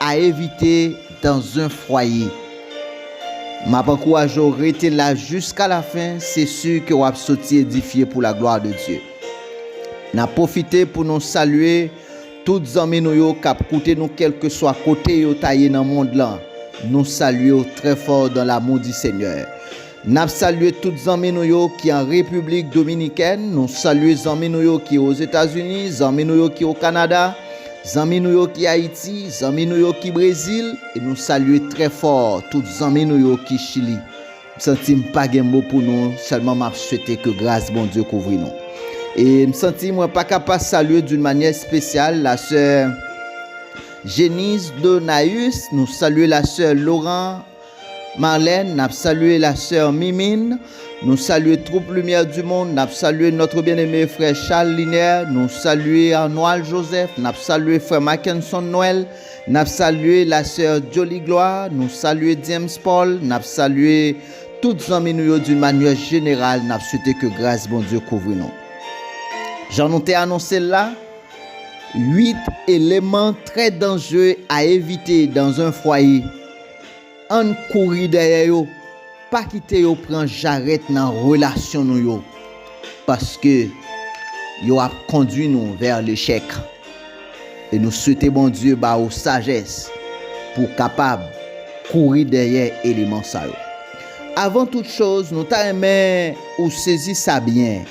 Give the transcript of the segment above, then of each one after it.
A evite dans un fwaye. Map ankouraje w rete la jiska la fen se si ke wap soti edifye pou la glwa de Dye. Nap pwofite pou nou salye tout zanmi nou yo kap koute nou kelkeswa kote yo ta ye nan mond lan nou salye w trè fò dan lamou di Senyè. Nap salye tout zanmi nou yo ki an Repiblik Dominikèn, nou salye zanmi nou yo ki Ozetazini, zanmi nou yo ki Okanada, zanmi nou yo ki Ayiti, zanmi nou yo ki Brezil, e nou salye trè fò tout zanmi nou yo ki Chili. M santi m pa gen mo pou nou, sèlman map swete ke gras Bondye kouvri nou. E m santi mwen pa ka pa salye d'une manyè espesyal la sè Genise Donaeus, nou salye la sè Laurent, Marlène nap salye la soeur Mimine nou salye troup lumière du monde nap salye notre bien aimé frè Charles Linaire nou salye Arnoil Joseph nap salye frè Mackenson Noël nap salye la soeur Joly Gloire nou salye James Paul nap salye tout zanmi nou yo d'une manière générale nap swete ke gras Bondye kouvri nou jan nou te anonsel la 8 eleman trè danjere a evite dans un foyer. Ann kouri dèyè yo, pa kite yo pran jarèt nan relasyon nou yo, paske yo ap kondwi nou vè lechèk. E nou swete Bondye ba ou sajès pou w kapab kouri dèyè eleman sa yo. Avan tout choz, nou ta renmen ou sezi sa byen.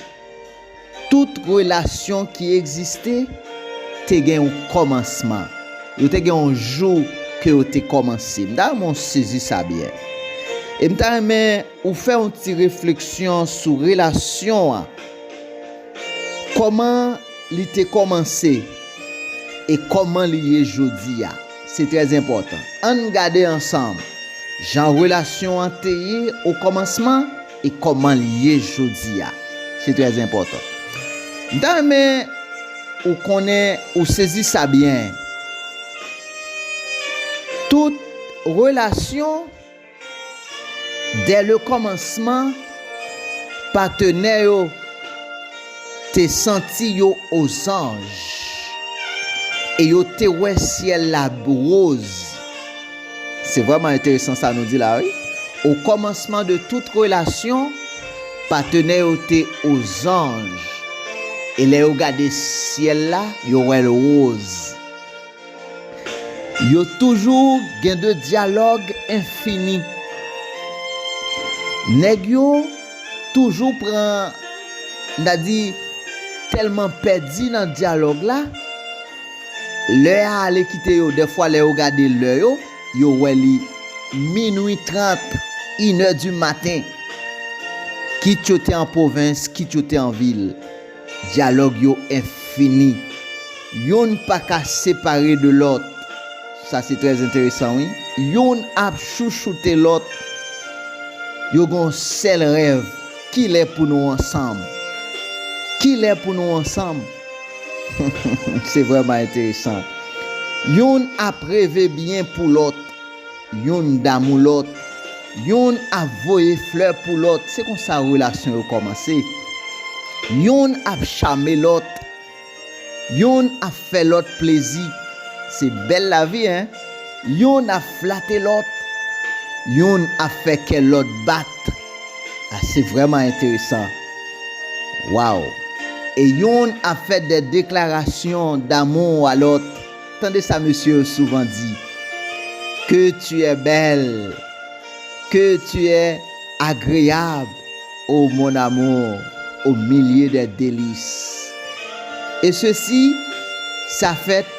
Tout relasyon ki egziste te gen yon kòmansman. Yo te gen yon jou ke yo te kòmanse. M ta renmen w sezi sa byen. E m ta renmen ou fè yon ti refleksyon sou relasyon an. Kòman li te kòmanse e kòman li ye jodi a. Se trè enpòtan. An n gade ansanm jan relasyon an te ye okòmansman. E kòman l ye jodi a? Se trè enpòtan. M ta renmen ou konnen, ou sezi sa byen. Tout relasyon, dè le kòmansman, patenè yo te santi yo ozanj. E yo te wè syèl la roz, Se vrèman enteresan sa nou di la wi. Okòmansman de tout relasyon, patenè yo te ozanj, e lè yo gade syèl la, yo wè l woz. Yo toujou gen de dyalòg enfini. Nèg yo toujou pran, n ta di, tèlman pèdi nan dyalòg la, Lè a ale kite yo, dèfwa lè yo gade lè yo, yo wè li minwi trant, inè di maten. Kit yo te an pwovens, kit yo te an vil, dyalòg yo enfini. Youn pa ka separe de lòt. Sa se trè enteresan wi. Youn ap chouchoute lòt. Yo gen yon sèl rèv, kilè pou nou ansanm? Kilè pou nou ansanm? Se vrèman enteresan. Youn ap reve byen pou lòt, youn damou lòt, youn ap voye flè pou lòt, se konsa relasyon yo kòmanse. Youn ap chame lòt, youn ap fè lòt plezi, se bèl lavi hein! Youn ap flate lòt, youn ap fè kè lòt bat. Ah se vrèman enteresan waw e youn ap fè dè deklarasyon damou a lòt tande sa mesye yo souvan di que tu es belle que tu es agreable oh mon amour au milieu des delices et ceci sa fèt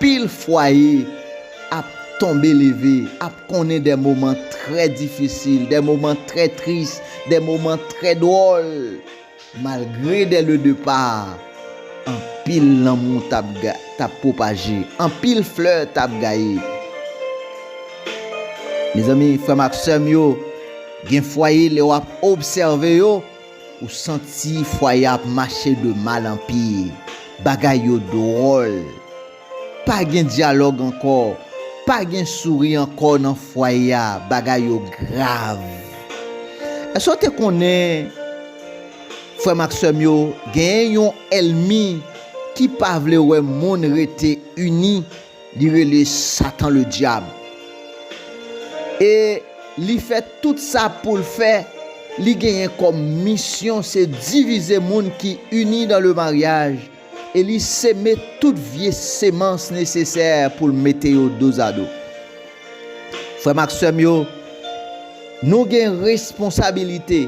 Pil fwaye ap tonbe leve, ap konnen de moman trè difisil, de moman trè tris, de moman trè dwòl. Malgre dè le depa, anpil lanmou t ap pwopaje, anpil flè t ap gaye. Mezanmi, frè m ak sè m yo, gen fwaye lè w ap obsève yo, Ou santi fwaye a ap mache de mal an pi, bagay yo dwòl. Pa gen dyalòg ankò, pa gen souri ankò nan fwaye a, bagay yo grav. Èske w te konnen, frè m ak sè m yo, genyen yon èlmi ki pa vle wè moun rete ini? Li rele Satan le Dyab. E li fè tout sa pou l fè, li genyen kòm misyon se divize moun ki ini dan le maryaj e li seme tout vye semans nesesè pou l mete yo dozado. Frè m ak sè m yo, nou gen responsabilite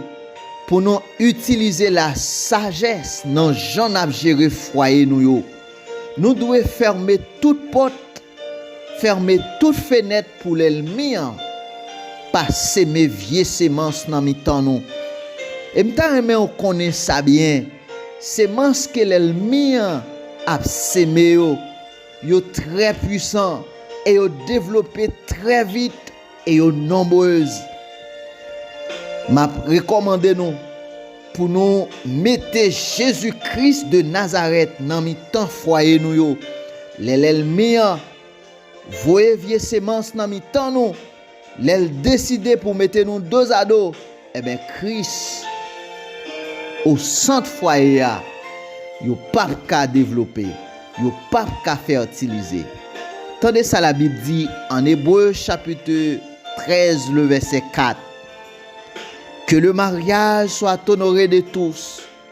pou nou itilize lasajès nan jan n ap jere fwaye nou yo. Nou dwe fèmen tout pòt, fèmen tout fenèt pou lèlmi an pa seme vye semans nan mitan nou. E m ta renmen w konnen sa byen, semans ke lèlmi an ap seme yo, yo trè pwisan e yo devlope trè vit. e yo nonbrez map rekomande nou pou nou mete Jezi Kris de Nazarèt nan mitan fwaye nou yo lè lèlmi an voye vye semans nan mitan nou lèl deside pou mete nou dozado Enben Kris o sant fwaye a yo pap ka devlope, yo pap ka fètilize. Tande sa labib di an Ebre chapit 13 le vèsè 4, Ke le maryaj soit honore de tous,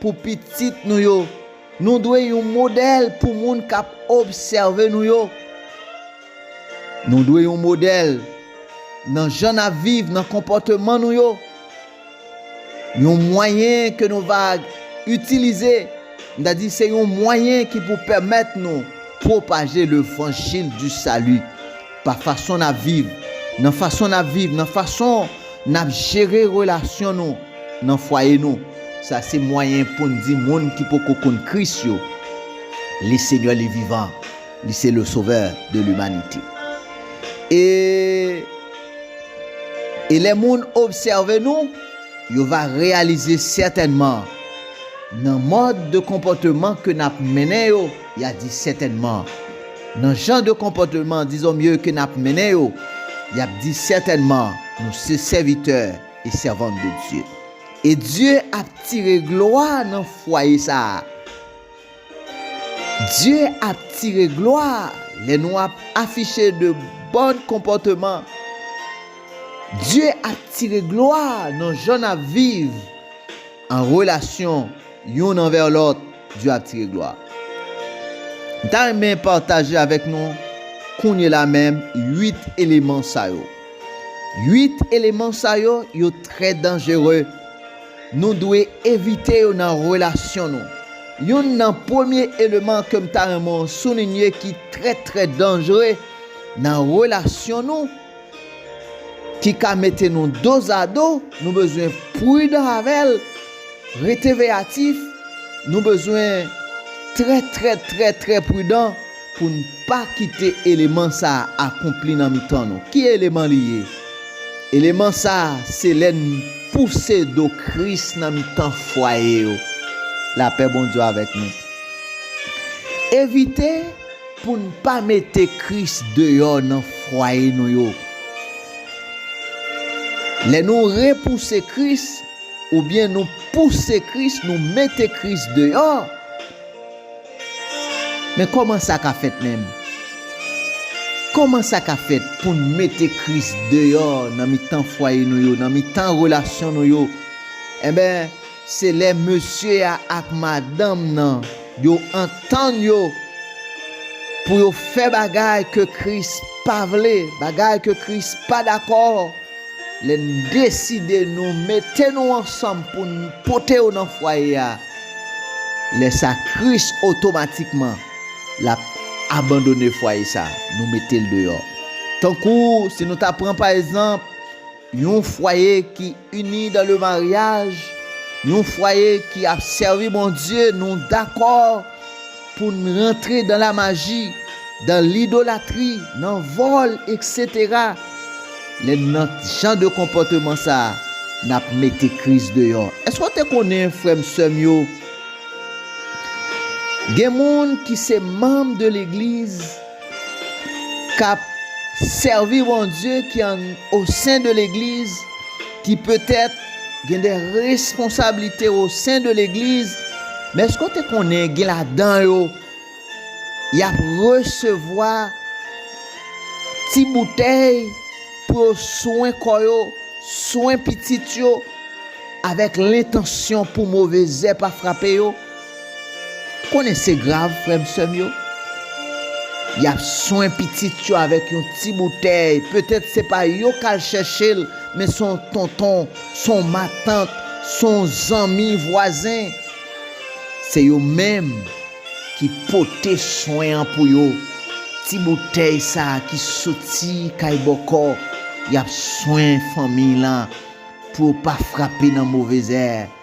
Pou pitit nou yo, nou dwe yon modèl pou moun k ap obsève nou yo. Nou dwe yon modèl nan jan n ap viv, nan konpòteman nou yo. Yon mwayen ke nou va itilize, m ta di, se yon mwayen ki pou pèmèt nou pwopaje levanjil di sali. Pa fason n ap viv, nan fason n ap viv, nan fason n ap jere relasyon nou nan fwaye nou. Sa se mwayen pou n di moun ki poko konn Kris yo, Le Seigneur le vivant, Li se le Sauveur de l'humanité. E, e lè moun obsève nou, yo va reyalize sètènman, nan mòd de konpòteman ke n ap mennen yo, Ya di sètènman. Nan jan de konpòteman dizon mye ke nap mennen yo, yap di sètènman nou se sèvitè e sèvant de Dye. E Dye ap tire glwa nan fwaye sa a. Dye ap tire glwa lè nou ap afiche de bòn konpòteman. Dye ap tire glwa nan jan nap viv an relasyon. Youn anvè lòt, Dye ap tire glwa. M ta renmen pataje avèk nou kounye la menm 8 eleman sa yo. 8 eleman sa yo, yo trè danjere. Nou dwe evite yo nan relasyon nou. Youn nan premye eleman ke m ta renmen w soulinye ki trè trè danjere nan relasyon nou, ki ka mete nou dozado, nou bezwen prudan avè l, rete veyatif, nou bezwen trè trè trè trè prudan pou n pa kite eleman sa a akonpli nan mitan nou. Ki eleman li ye? Eleman sa a se lè n pouse do Kris nan mitan fwaye yo. Lapè Bondye avèk nou. Evite. Pou n pa mete Kris deyò nan fwaye nou yo. Lè nou repouse Kris, oubyen nou pouse Kris, nou mete Kris deyò, men kòman sa ka fèt menm? Kòman sa ka fèt pou n mete Kris deyò nan mitan fwaye nou yo, nan mitan relasyon nou yo? Enben. Se lè mesye a ak madanm nan yo antann yo pou yo fè bagay ke Kris pa vle, bagay ke Kris pa dakò, lè n deside nou mete nou ansanm pou n pote yo nan fwaye a, lè sa Kris otomatikman l ap abandone fwaye sa, nou mete l deyò. Tankou si nou ta pran pa ezanp. Yon fwaye ki ini dan le maryaj, yon fwaye ki ap sèvi Bondye, nou dakò pou n rantre dan la maji, dan lidolatri, nan vòl, eksetera. Lè n nan jan de konpòteman sa, n ap mete Kris deyò. Èske w te konnen, frè m, sè m yo, gen moun ki se manm de legliz, k ap sèvi Bondye ki an osen de legliz ki petèt gen de responsablite osen de legliz men èske w te konnen gen ladan yo y ap resevwa ti boutèy pou yo swen kò yo swen pitit yo avèk lentansyon pou move zè pa frape yo Konnen se grav frèm sèm yo. Yap swen pitit yo avèk yon ti boutèy petèt se pa yo kal chèchel men son tonton son matant son zanmi vwazen se yo menm ki pote swen an pou yo ti boutèy sa ki soti kay bòkò yap swen fanmiy lan pou yo pa frape nan movezè.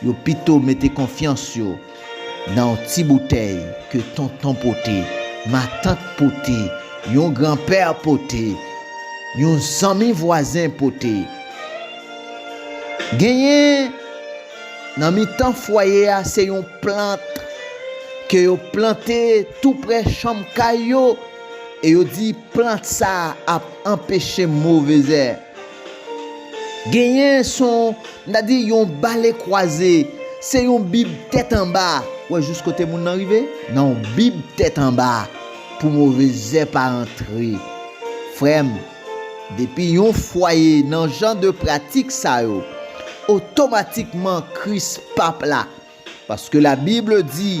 Yo pito mete konfyans yo nan yon ti boutèy ke tonton pote, matant pote, yon granpè pote, yon zanmi vwazen pote. Genyen nan mitan fwaye a se yon plant ke yo plante tou prè chanm kay yo e yo di plant sa ap anpeche move zè. Genyen son m ta di yon bale kwaze, se yon bib tèt anba, ou wè jous kote moun nan rive? Nan yon bib tèt anba pou move zè pa antre. Frè m, depi yon fwaye nan jan de pratik sa yo, otomatikman Kris pap la. Paske la Bible di.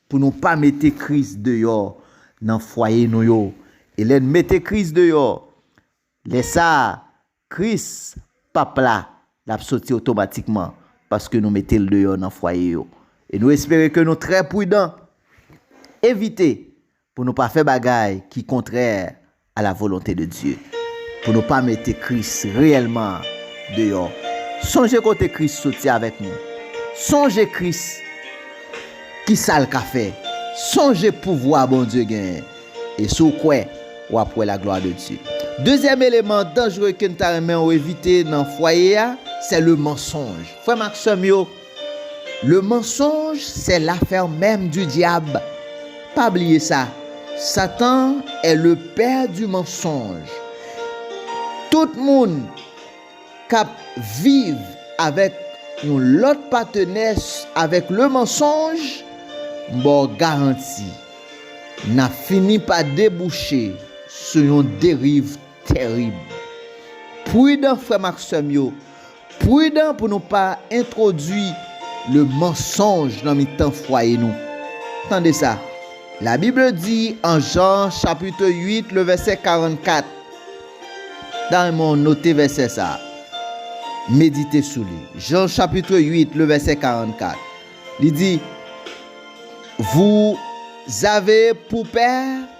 Pou nou pa mete Kris deyò nan fwaye nou yo. E lè n mete Kris deyò, lè sa a, Kris, Pap la, l ap soti otomatikman, paske nou mete l deyò nan fwaye yo. E nou espere ke nou trè pridan, evite pou nou pa fè bagay ki kontrè a la volonte de Dye, pou nou pa mete Kris reyèlman an deyò. Sonje kote Kris soti avèk nou. Sonje Kris, ki sa l ka fè. Sonje pouvwa Bondye genyen. E si w kwè, w ap wè laglwa de Dye. Dezyèm eleman danjre ke n ta renmen w evite nan fwaye a, se le mansonj. Frè m ak sè m yo! Le mensonge c'est l'affaire même du diable pa bliye sa satan est le père du mensonge tout moun kap viv avèk yon lòt patenè avèk le mensonge m baw garanti nap fini pa debouche sou yon deriv tèrib prudan frèm ak sèm yo Prudan pou nou pa entwodui le mansonj nan mitan fwaye nou. Tande sa, La Bible di an Jan chapitre 8 le vèsè 44, Dame mwen note vèsè sa, medite sou li, Jan chapitre 8 le vèsè 44, li di, Vouzave pou pè?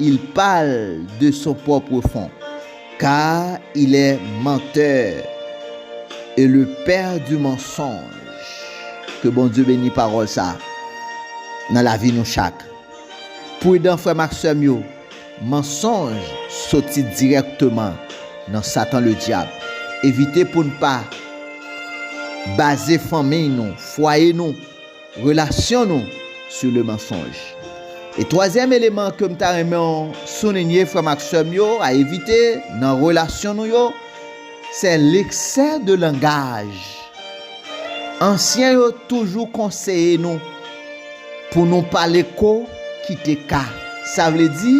Il parle de son propre fond, car il est menteur et le père du mensonge ke Bondye beni pawòl sa nan lavi nou chak prudan frèm ak sèm yo mensonge soti dirèkteman nan satan le dyab evite poun pa baze fanmiy nou fwaye nou Relasyon nou sou le mansonj. E twazyèm eleman ke m ta renmen w soulinye frè m ak sè m yo a evite nan relasyon nou yo, sè leksè de langaj. Ansyen yo toujou konseye nou pou nou pale ko kite ka. Sa vle di,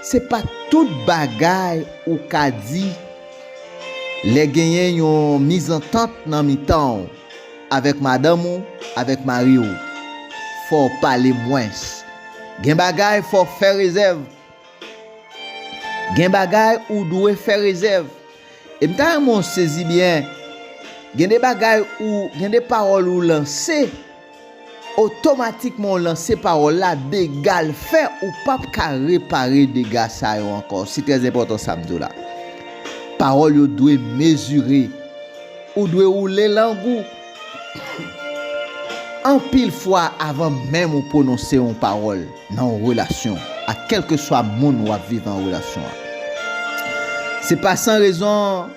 se pa tout bagay ou ka di lè genyen yon mizantant nan mitan w. Avèk madanm ou, avèk mari ou. Fò w pale mwens. Gen bagay fò w fè rezèv. Gen bagay ou dwe fè rezèv. E m ta renmen w sezi byen, gen de bagay ou, gen de pawòl ou lanse. Otomatikman ou lanse pawòl la dega l fè ou pap ka repare dega sa yo ankò se trè enpòtan sa m di w la pawòl yo dwe mezire ou dwe woule lang ou anpil fwa avan menm ou pwononse yon pawòl nan yon relasyon ak kèlkeswa moun wap viv an relasyon se pa san rezon.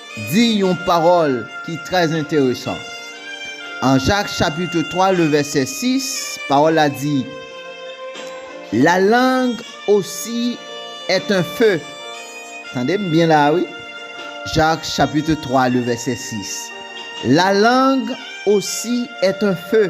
di yon pawòl ki trè enteresan. An Jak chapitre 3 le vèsè 6, pawòl la di, La lang osi est un feu. Tande m byen la a wi, Jak chapitre 3 le vèsè 6, La lang osi est un feu.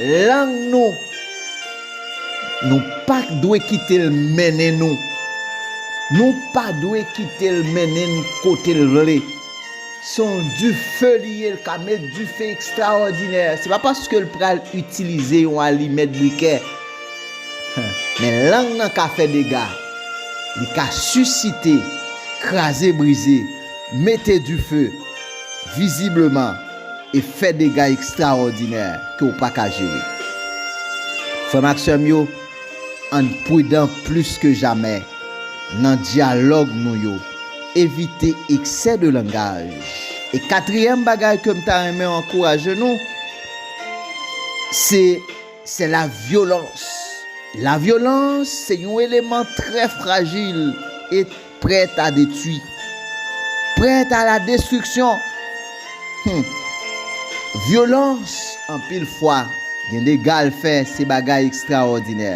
Lang nou, nou pa dwe kite l mennen nou. Nou pa dwe kite l mennen n kote l vle. Se yon dife li ye, l ka met dife ekstraòdinè. Se pa paske l pral itilize yon alimèt brikè. Men lang nan ka fè dega. Li ka sisite, kraze brize, mete dife. Vizibleman. e fè dega ekstraòdinè ke w pa ka jere. Frè m ak sè m yo, ann prudan plis ke jamè nan dyalòg nou yo, evite eksè de langaj. E katriyèm bagay ke m ta renmen ankouraje nou, se, se la vyolans. La vyolans se yon eleman trè frajil e Prèt a detui. Prèt a la destriksyon. Hum. Vyolans, anpil fwa, gen dega l fè, se bagay ekstraòdinè.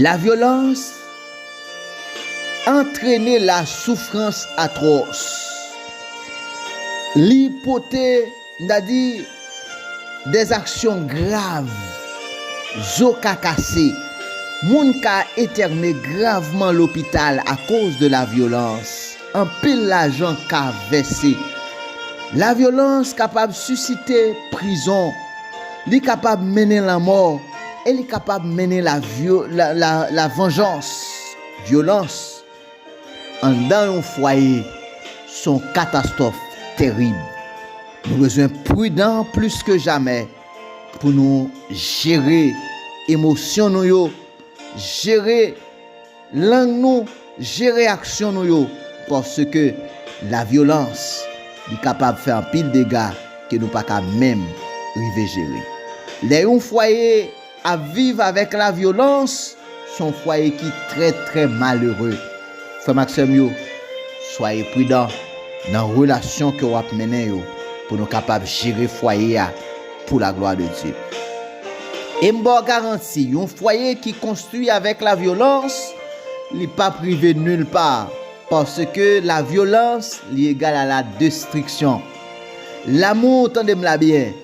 Lavyolans antrene lasoufrans atwòs. Li pote. M ta di, dè zaksyon grav, zo ka kase, moun ka etène gravman lopital akoz de la vyolans, anpil lajan ka vèse. La vyolans kapab sisite prizon, li kapab mennen lanmò e li kapab mennen la la la la vanjans, vyolans. Anndan yon fwaye se yon katastwòf terib. Nou bezwen pridan plis ke jamè pou nou jere emosyon nou yo, jere lang nou, jere aksyon nou yo paske lavyolans li kapab fè anpil dega ke nou pa ka menm rive jere. Lè yon fwaye. Ap viv avèk la vyolans s on fwaye ki trè trè malere. Frè m ak sè m yo, swaye pridan nan relasyon ke w ap mennen yo pou nou kapab jere fwaye a pou laglwa de Dye. E m ba w garanti, yon fwaye ki konstwi avèk la vyolans, li p ap rive nil pa, paske la vyolans li egal a la destriksyon. Lamou, tande m la byen!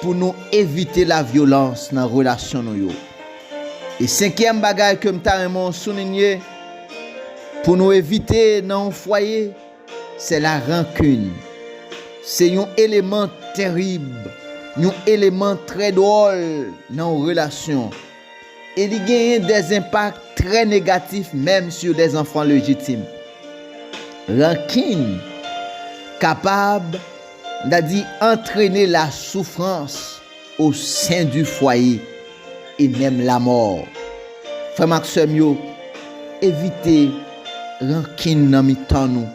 Pou nou evite la vyolans nan relasyon nou yo. E senkyèm bagay ke m ta renmen w soulinye, pou nou evite nan yon fwaye, se la rankin. Se yon eleman terib, yon eleman trè dwòl nan yon relasyon. e li genyen dè zenpak trè negatif menm sou dè zanfan lejitim. Rankin kapab, n ta di, antrene la soufrans o sen di fwaye e menm lamò. Frè m ak sè m yo, evite. Rankin nan mitan nou.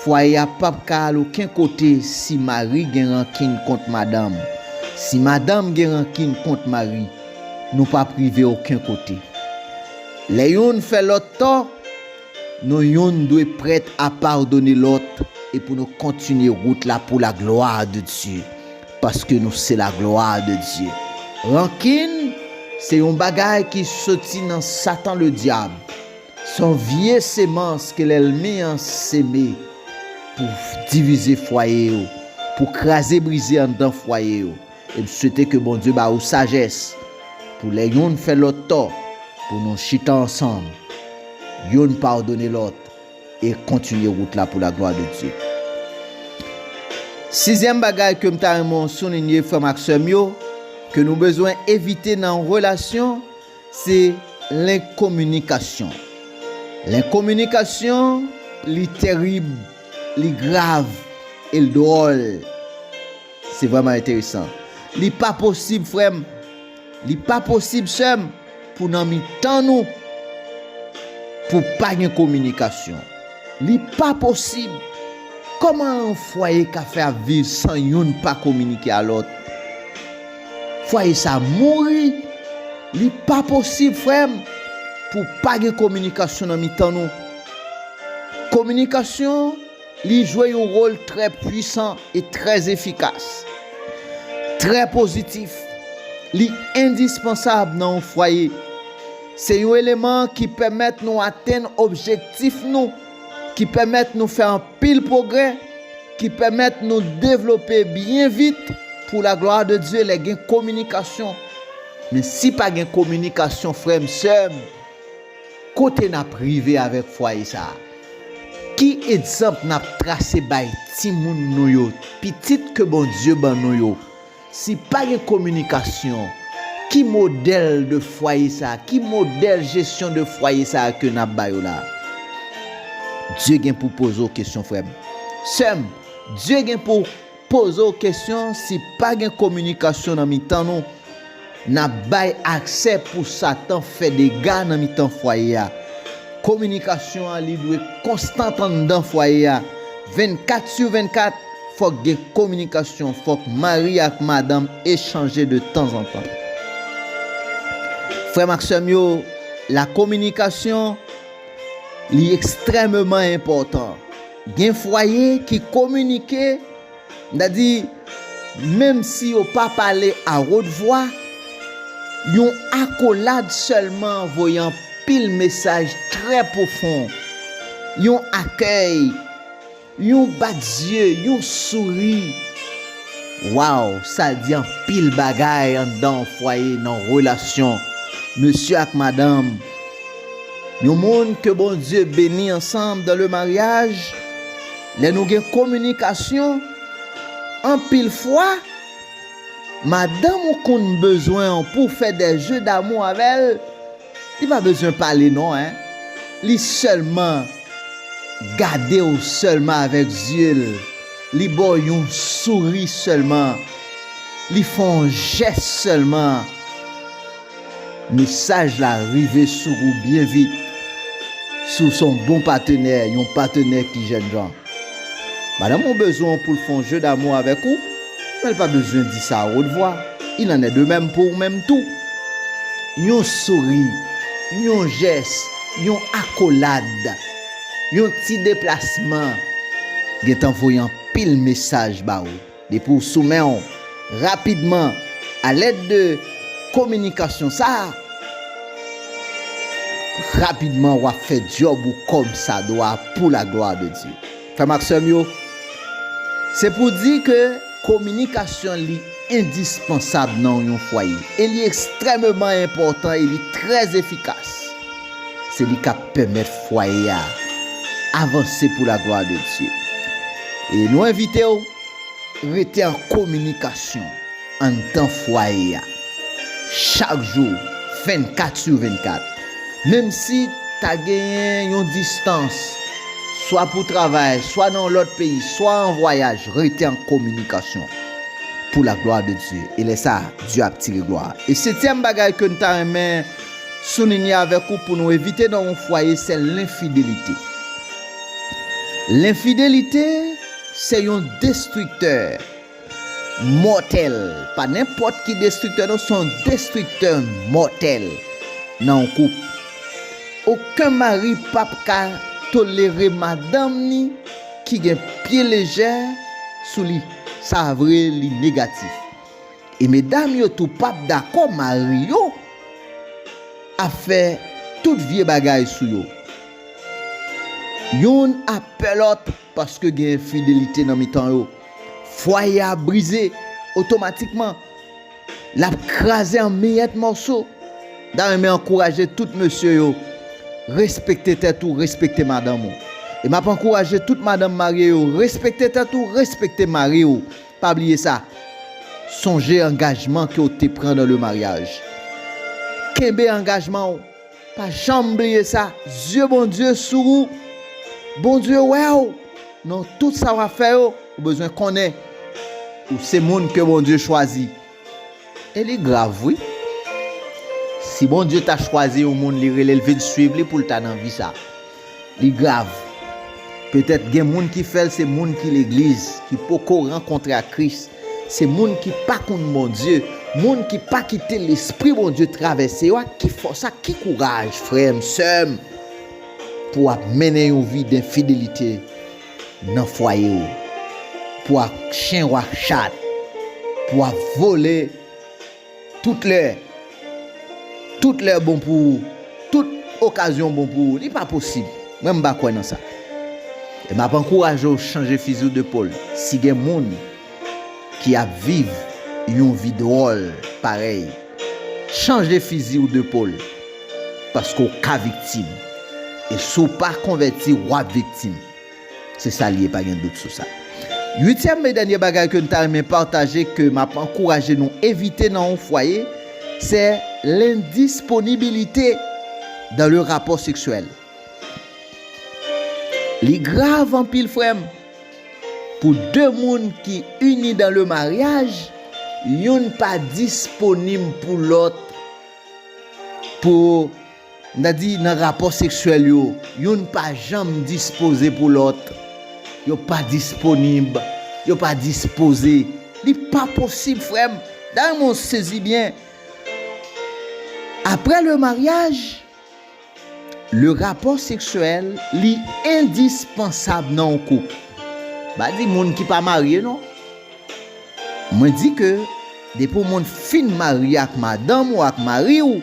Fwaye a pap ka al oken kote si mari gen rankin kont madanm. Si madanm gen rankin kont mari, nou pap rive oken kote. Lè youn fè lòt tò, nou youn dwe prèt a padone lòt e pou nou kontinye wout la pou laglwa de Dye, paske nou se laglwa de Dye. Rankin se yon bagay ki soti nan Satan Ledyab. Son vye semans ke lèlmi an seme pou divize fwaye yo, pou kraze brize anndan fwaye yo. E m swete ke Bondye ba ou sajès pou lè youn fè lòt tò pou nou chita ansanm, youn padone lòt e kontinye wout la pou laglwa de Dye. Sizyèm bagay ke m ta renmen w soulinye frè m ak sè m yo, ke nou bezwen evite nan relasyon, Se lenkominikasyon. Lenkominikasyon, li terib, li grav, e l dwòl. Se vrèman enteresan. Li pa posib, frè m, li pa posib, sè m, pou nan mitan nou, pou pa gen kominikasyon. Li pa posib! Kòman yon fwaye ka fè ap viv san youn pa kominike a lòt? Fwaye sa mouri li pa posib frèm pou pa gen kominikasyon nan mitan nou kominikasyon li jwe yon wol trè pwisan e trè efikas trè pozitif li endispansab nan yon fwaye se yon eleman ki pèmèt nou atenn objektif nou ki pèmèt nou fè anpil pwogrè, ki pèmèt nou devlope byen vit pou la glwa de Dye lè gen kominikasyon. Men si pa gen kominikasyon frè m, sè m, kote n ap rive avèk fwaye sa a? Ki egzanp n ap trase bay timoun nou yo, pitit ke Bondye ban nou yo? Si pa gen kominikasyon, ki modèl de fwaye sa, ki modèl jesyon de fwaye sa ke nap ba yo la? Dye gen pou poze w kesyon frèm, sèm, Dye gen pou poze w kesyon si pa gen kominikasyon nan mitan nou. N ap bay aksè pou Satan fè dega nan mitan fwaye a. Kominikasyon an li dwe konstant anndan fwaye a. 24 sur 24, fòk gen kominikasyon, fòk mari ak madanm echanje de tanzantan. Frè m ak sè m yo, lakominikasyon li ekstrèmeman enpòtan. Gen fwaye ki kominike. M ta di, menm si yo pa pale a wot vwa, yon akolad sèlman voye anpil mesaj trè pwofon. Yon akèy, yon bat zye, yon souri, waww sa di anpil bagay anndan yon fwaye nan relasyon mesye ak madanm. Yon moun ke Bondye beni ansanm dan le maryaj. Lè nou gen kominikasyon, anpil fwa, madanm ou konn bezwen w pou w fè dè je damou avè l, li pa bezwen pale non hein, li sèlman gade w sèlman avèk zye l, li ba w yon souri sèlman, li fè yon jès sèlman, Mesaj la rive sou ou byen vit si w se yon bon patenè, yon patenè ki jèn jan. Madanm ou bezwen w pou l fè yon je damou avèk ou, men l pa bezwen di sa a wot vwa. Il en est de même pou ou menm tou. Yon souri, yon jès, yon akolad, yon ti deplasman gentan voye anpil mesaj ba ou. Depi w sou men w, rapidman, alèd de kominikasyon sa a, rapidman w ap fè dyòb ou kòmsadwa pou laglwa de Dye. Frè m ak sè m yo, se pou di ke kominikasyon li endispansab nan yon fwaye e li ekstrèmeman enpòtan e li trè efikas. Se li kap pèmèt fwaye a avanse pou laglwa de Dye. E nou envitew rete an kominikasyon anndan fwaye a chak jou 24 su 24 menm si ta genyen yon distans swa pou travay swa nan yon lòt peyi swa an vwayaj rete an kominikasyon pou laglwa de Dye e lè sa Dye ap tire glwa. E setyèm bagay ke nou ta renmen soulinye avèk ou pou nou evite nan yon fwaye se lenfidelite. Lenfidelite se yon destriktè mòtèl, pa nenpòt ki destriktè non, se yon destriktè mòtèl nan yon koup. Oken mari p ap ka tolere madanm ni ki gen pye lejè sou li, sa vre li negatif. E medam yo tou pap dakò mari yo ap fè tout vye bagay sou yo. Youn ap pè lòt paske gen enfidelite nan mitan yo. Fwaye a brize otomatikman. L ap kraze an miyèt mòso. M ta renmen ankouraje tout mesye yo, respekte tèt ou, respekte madanm ou. E m ap ankouraje tout madanm marye yo, respekte tèt ou, respekte mari ou. Pa bliye sa, sonje angajman ke w te pran nan le maryaj. Kenbe angajman w, pa janm bliye sa. Zye Bondye sou ou, Bondye wè w nan tout sa w ap fè yo. Ou bezwen konnen ou se moun ke Bondye chwazi. E li grav wi. Si Bondye ta chwazi yon moun li relel vin swiv li poul ta nan vi sa. Li grav. Petèt gen moun ki fèl se moun ki legliz, ki poko rankontre ak Kris, se moun ki pa konn Bondye, moun ki pa kite lespri Bondye travèse yo ak ki fòs ak ki kouraj frèm, sèm pou wap mennen yon vi denfidelite nan fwaye ou pou ak chen wap chat pou wap vole tout lè tout lè bon pou ou tout okazyon bon pou ou li pa posib mwen m pa kwè nan sa e map ankouraje ou chanje fizi ou de pol si gen moun ki ap viv yon vi dwòl parèy, chanje fizi w de pol, paske w ka viktim, e si w pa konvèti wap viktim, se sa li ye pa gen dout sou sa. Uityèm e dènye bagay ke m ta renmen pataje ke map ankouraje nou evite nan yon fwaye, sè lendisponibilite dan le rapò seksyèl. Li grav anpil frè m. Pou de moun ki ini dan le maryaj, youn pa disponim pou lòt pou n ta di nan rapò seksyèl yo, youn pa janm dispoze pou lòt, yo pa disponib, yo pa dispoze, li pa posib frè m, dayè mwen sezi byen, aprè le maryaj. Le rapò seksyèl li endispansab nan yon koup. M pa di moun ki pa marye non. Mwen di ke depi yon moun fin marye ak madanm ou ak mari ou,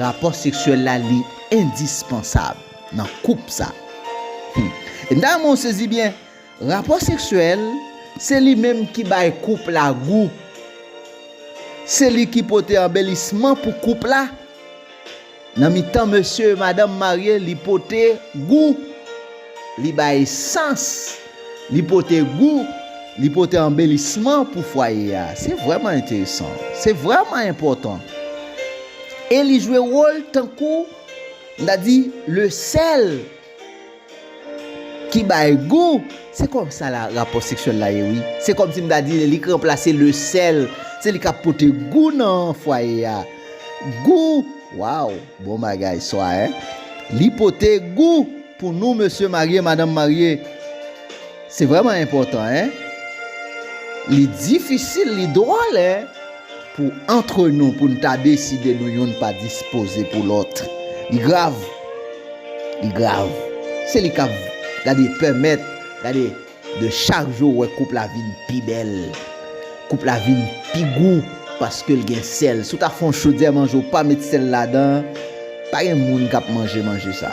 rapò seksyèl la li endispansab nan koup sa. Hum. E m ta renmen ou sezi byen, rapò seksyèl se li menm ki bay koup la gou. Se li ki pote anbelisman pou koup la. Nan mitan mesye e madanm marye li pote gou, li bay sans, li pote gou, li pote anbelisman pou fwaye a. Se vrèman enteresan. Se vrèman enpòtan. E li jwe wòl tankou, m ta di, le sèl. Ki bay gou! Se kòm sa la rapò seksyèl la ye wi. Se kòm si m ta di li k ranplase le sèl. Se li k ap pote gou nan fwaye a. Gou! Waw! Bon bagay swa hein! Li pote gou pou nou mesye marye, madanm marye. Se vrèman enpòtan hein! Li difisil, li dwòl hein! Pou antre nou pou n ta deside nou youn pa dispoze pou lòt. Li grav. Li grav. Se li k ap, gade, pèmèt, gade, de chak jou ou wè koup la vin pi bèl. Koup la vin pi gou paske l gen sèl. Si w ta fè yon chodyè manje ou pa met sèl ladan, pa gen moun k ap manje manje sa.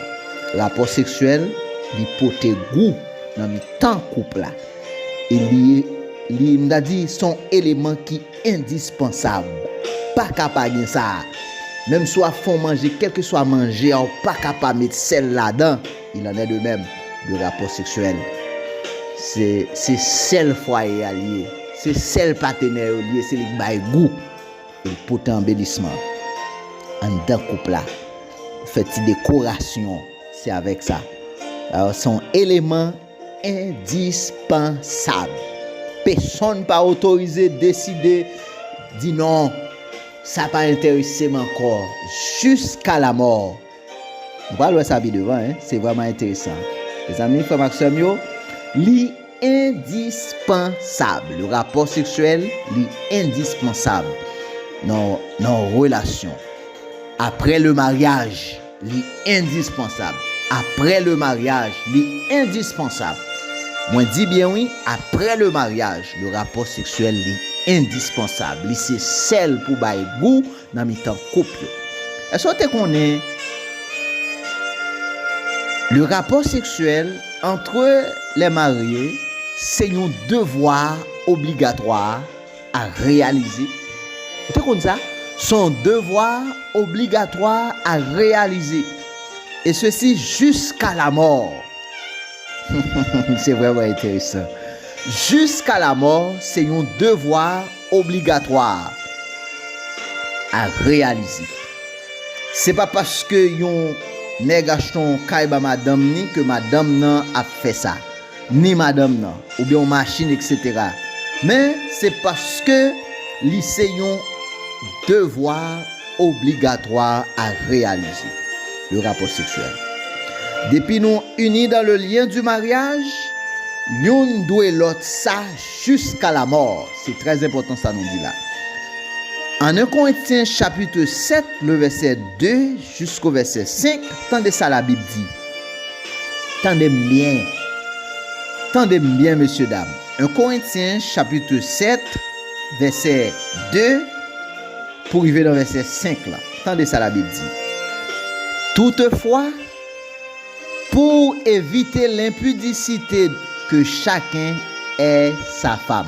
Rapò seksyèl, li pote gou nan mitan koup la. e li ye, li m ta di se yon eleman ki endispansab, pa ka pa gen sa, menm si w ap fè yon manje kèlkeswa manje a w pa ka pa met sèl ladan, il en est de même de rapò seksyèl, se se sèl fwaye a li ye, se sèl patenè yo li ye, se li k bay gou, e li k pote anbelisman anndan koup la, fè ti dekorasyon, se avèk sa, alò se yon eleman. Endispansab. Pesonn pa otorize deside di non, sa pa enteresem ankò jiska lamò. Nou pral wè sa pi devan hein, se vrèman enteresan. Mezanmi frèm ak sèm yo, li endispansab. Le rapò seksyèl li endispansab nan nan relasyon. Aprè le maryaj. Li endispansab. Aprè le maryaj, li endispansab. Mwen di byen wi, aprè le maryaj, le rapò seksyèl li endispansab. Li se sèl pou bay gou nan mitan koup yo. Èske w te konnen le rapò seksyèl antre lè marye se yon devwa obligatwa? a reyalize. Ou te konn sa? Son yon devwa obligatwa a reyalize, e sesi jiska lamò. Se vrèman enteresan. Jiska lamò se yon devwa obligatwa a reyalize. Se pa paske yon nèg achte yon kay ba madanm ni ke madanm nan ap fè sa. ni madanm nan, oubyen yon machin eksetera, men se paske li se yon devwa obligatwa a reyalize, le rapò seksyèl. Depi nou ini dan le lyen di maryaj, youn dwe lòt sa jiska lamò, se trè enpòtan sa nou di la. An 1 Korentyen chapitre 7 le vèsè 2, Jisko vèsè 5, tande sa labib di. Tande m byen. Tande m byen mesye dam. 1 Korentyen chapitre 7 vèsè 2 pou rive nan vèsè 5 lan. Tande sa labib di. Toutefwa, pou w evite lenpidisite ke chaken è sa fam.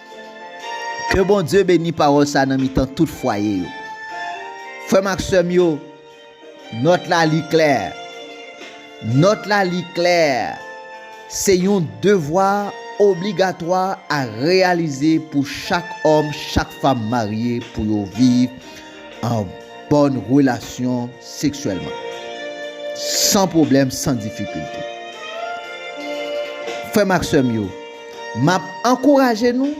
Ke Bondye beni pawòl sa nan mitan tout fwaye yo. Frè m ak sè m yo, nòt la li klè. Nòt la li klè. Se yon devwa obligatwa a reyalize pou chak òm, chak fanm marye pou yo viv an bòn relasyon seksyèlman. San pwoblèm, san difikilte. Frè m ak sè m yo. M ap ankouraje nou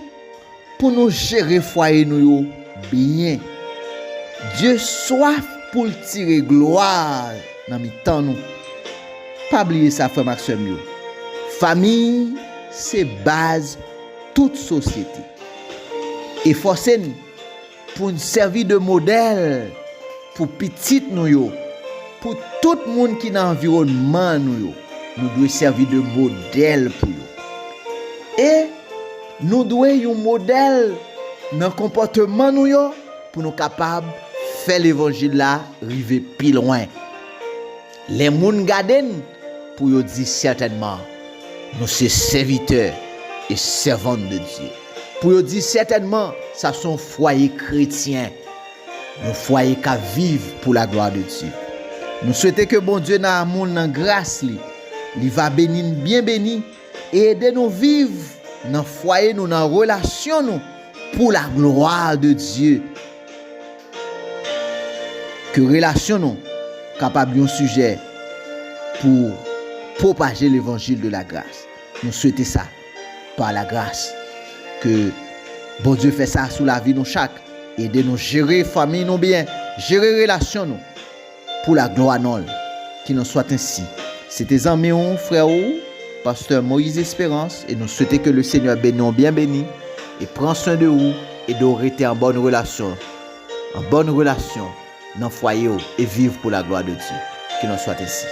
pou nou jere fwaye nou yo byen. Dye swaf pou l tire glwa nan mitan nou. Pa bliye sa frè m ak sè m yo, Famiy se baz tout sosyete. Efòse n! Pou n sèvi de modèl pou pitit nou yo, pou tout moun ki nan anviwònman nou yo, nou dwe sèvi de modèl pou yo. E nou dwe yon modèl nan konpòteman nou yo pou nou kapab fè levanjil la rive pi lwen. Lè moun gade n, pou yo di sètènman, Nou se sèvitè e sèvant de Dye. Pou yo di sètènman, Sa se yon fwaye kretyen, yon fwaye k ap viv pou laglwa de Dye. Nou swete ke Bondye nan amou l, nan gras li, li va beni n byen beni E ede nou viv nan fwaye nou nan relasyon nou pou la glwa de Dye. Ke relasyon nou kapab yon sijè pou pwopaje levanjil de la gras. Nou swete sa pa la gras. Ke Bondye fè sa sou lavi nou chak. Ede nou jere fanmiy nou byen, jere relasyon nou. Pou la glwa non l, ki non swat ensi. Se te zanmi w, frè w, Pasteur Moïse Esperance e nou swete ke le Seigneur beni w byen beni e pran swen de ou, ede w rete an bòn relasyon, an bòn relasyon nan fwaye w e viv pou la glwa de Dye. Ki non swat ensi.